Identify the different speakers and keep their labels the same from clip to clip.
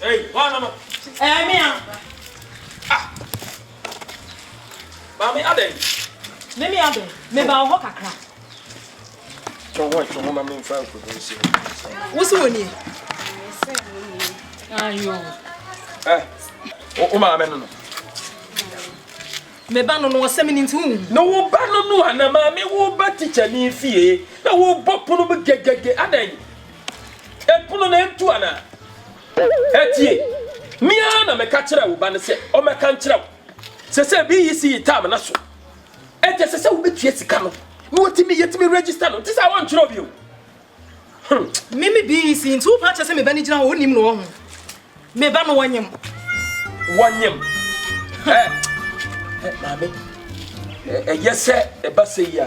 Speaker 1: Hey,
Speaker 2: one no no. Eh,
Speaker 1: me am. Ah. Mami aden. Me me aden. Me ba ho kakra. To ho to ho ma me mfa ko do nsi. Wo si woni.
Speaker 2: Ayo. Eh.
Speaker 1: O o ma me no no.
Speaker 2: Me ba no no asem ni nti hu. No wo ba no no
Speaker 1: ana ma me wo ba teacher ni fie. Na wo bo pono mu gegege aden. Ɛpono no antu anaa? Tie! Me ara na meka kyerɛɛ wo ba no sɛ ɔmmɛka nkyerɛ wo. Seesei BEC yi term no so, enti ɛsɛ sɛ wubetua sika no na watumi yɛatumi register no. Nte saa? Wɔnkyerɛw bio. Hmm.
Speaker 2: Me me BEC nti wopa kyɛ sɛ me ba no gyina hɔ wonim no ɔho. Me ba no wɔnyem. Wɔnyem.
Speaker 1: Ɛ, ɛ, maame, ɛyɛ sɛ ɛba sɛ yi a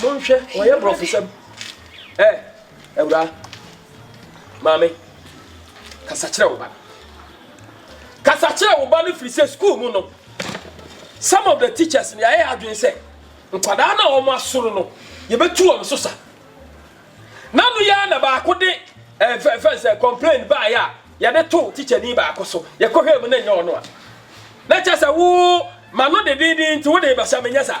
Speaker 3: Monhwɛ,
Speaker 1: wɔyɛ borɔfosɛm. Ɛ, awuraa, maame, kasa kyerɛ wo ba no. Kasa kyerɛ wo ba no firi sɛ sukuu mu no, some of the teachers no yɛayɛ adwene sɛ nkwadaa no a wɔn asoro no, yɛbɛtu wɔn so sa. Na no yɛ na baako de ɛfɛ ɛfɛ sɛ complain baayɛ a yɛde to teacher ni baako so yɛkɔhwɛ mu na nyɛ ɔno a na kyɛ sɛ wo ma no de denden nti wo de bɛhyɛ menyɛ saa.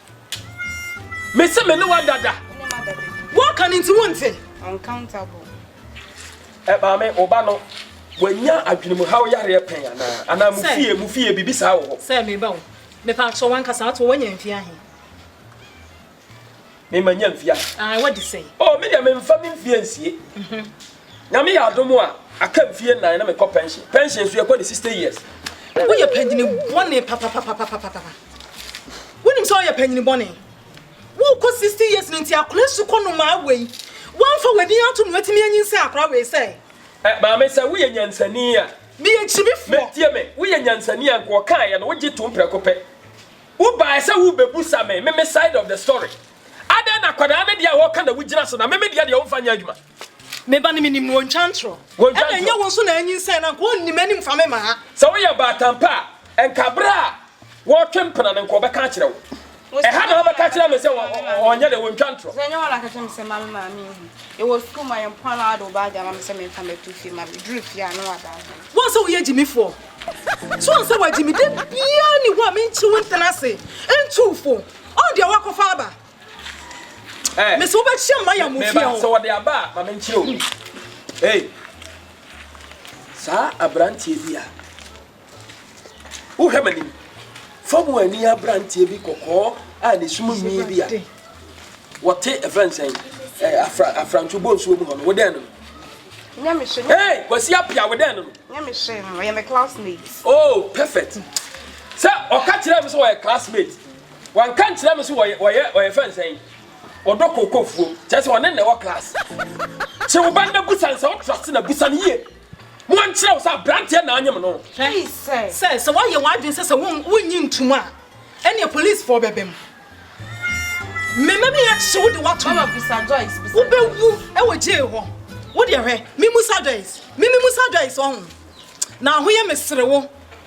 Speaker 1: Mese me ne wa dada. Wɔka
Speaker 2: no nti wonte. Uncountable.
Speaker 1: Ẹ eh, maame ọba no wanya adwenemuhaw yareɛ pɛn anaa anaa mu fie mu fie biribi saa wɔ hɔ. Sɛ meba wo
Speaker 2: mepa akyɛ wankasa ato wanya mfie ahe.
Speaker 1: Mema nya mfie ahe. Ah, wadi sɛn.
Speaker 2: Oh, me deɛ memfa me
Speaker 1: mfie nsie. Mhm. Nyame yɛ adom a, aka mfie nnan na mekɔ pension. Pension nso yɛkɔ no sixty years. Woyɛ panyin
Speaker 2: bɔne papapapapapa. Wonim sɛ woyɛ panyin bɔne. Wokɔ sixty years no nti akora su kɔ nomaa wei. Woamfa w'adin ato no watumi anyinsɛn akora wei sɛn? Ɛ, maame sɛ
Speaker 1: woyɛ nyansani a. Meyɛ gyimifoɔ. Mɛ,
Speaker 2: tie me, woyɛ
Speaker 1: nyansani a nka ɔkaeɛ no wogye tom prɛko pɛ. Wobaeɛ sɛ worebɛbusa me, me me side of the story. Adɛn na akwadaa no deɛ a wɔka na wogyina so na me me deɛ deɛ womfa nyɛ adwuma? Me ba no menim
Speaker 2: no, ɔntwa ntorɔ. Wɔntwa Ɛna ɛnyɛ ntorɔ. wo nso na anyinsɛn no, anka ɔnni m'anim fa me mmaa. Sɛ woyɛ baatan pa
Speaker 1: a, anka berɛ a wɔretwe mpena no, anka ɔbɛka akyerɛ wo. Wo Ɛha na sɛ wobɛka akyerɛ me sɛ ɔ- ɔ- ɔnyɛ dɛ, wɔntwa ntorɔ. Sɛ ɛnyɛ wo a na aka kyerɛ me sɛ mma
Speaker 3: me maame nhu. Yɛwɔ sukuu mu a, yɛn mpoano ara de wo baage ama me sɛ memfa mmɛto fie ma me. Duru fie a, na wada ase. Wo a sɛ woyɛ
Speaker 2: gyimifoɔ, so ɔnsɛ w'agyimi? Da biara nni hɔ a menkyi wo ntena ase ntu wo fo. Ɔɔ deɛ woakɔfa aba. Eh. Mesi wo bɛkyia mma yɛ mo fie o. Meba sɛ wɔde aba a ma menkyerɛ
Speaker 1: o. Ei. Saa aberanteɛ bi a wohwɛ m'anim fa mu ani aberanteɛ bi kɔkɔɔ a ne sum nwi bi a wɔte ɛfrɛ nsɛn eh, afra afranto bɔ nsuo mu hɔ no wodɛn no. Nyamehwɛ. Hey, kwasi apia wodɛn no. Nyamehwɛ no ɔyɛ me
Speaker 3: classmate. Oh, perfect.
Speaker 1: Sɛ ɔka kyerɛ me sɛ ɔyɛ classmate. Wanka nkyerɛ me so wɔyɛ wɔyɛ wɔyɛ fɛn sɛn ɔdɔ kooko fuo kyerɛ sɛ ɔne na ɛwɔ class kye wo ba no na busa no sɛ wo trust na busa no yie mo ankyerɛ wo sɛ abranteɛ na anyem no. Hwɛ sɛ
Speaker 2: sɛ woayɛ w'adwene sɛ sɛ wo wonnye ntom a ɛneɛ police foɔ bɛba mu
Speaker 3: me
Speaker 2: mɛbɛyɛ akyekye wo de
Speaker 3: woato
Speaker 2: mu
Speaker 3: wo bɛ
Speaker 2: wu ɛwɔ
Speaker 3: jail hɔ
Speaker 2: wo deɛ hwɛ me musa Joyce me me musa Joyce ɔho na ahoyɛ me sere wo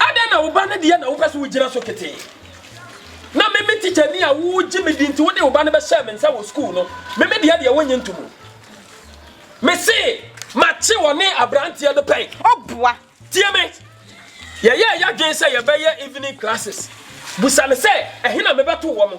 Speaker 1: Adɛn na wo ba no deɛ na wopɛ sɛ wogyina so ketee? Na me me tikyani a wogye me di nti wode wo ba no bɛhyɛɛ me nsa wɔ sukuu no, me me deɛ deɛ wonnye ntom o. Mese makye wɔne aberanteɛ no pɛn. O boa! Tie
Speaker 3: me.
Speaker 1: Yɛyɛɛ yɛadwene sɛ yɛbɛyɛ evening classes. Busa no sɛ, Ɛhe na mebɛto wɔn?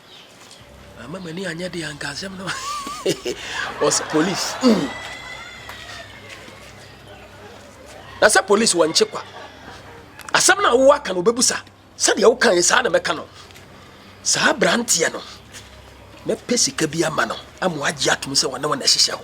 Speaker 2: Ama
Speaker 1: m'ani anyɛ deɛ anka asɛm no was police mm. na sɛ police wɔnkye kwa asɛm no a wowɔ aka no wobɛbusa sɛdeɛ woka yɛ saa na mɛka no saa branteɛ no mɛpɛ sika bi ama no ama wagye atom sɛ wɔne wɔn ɛhyehyɛ hɔ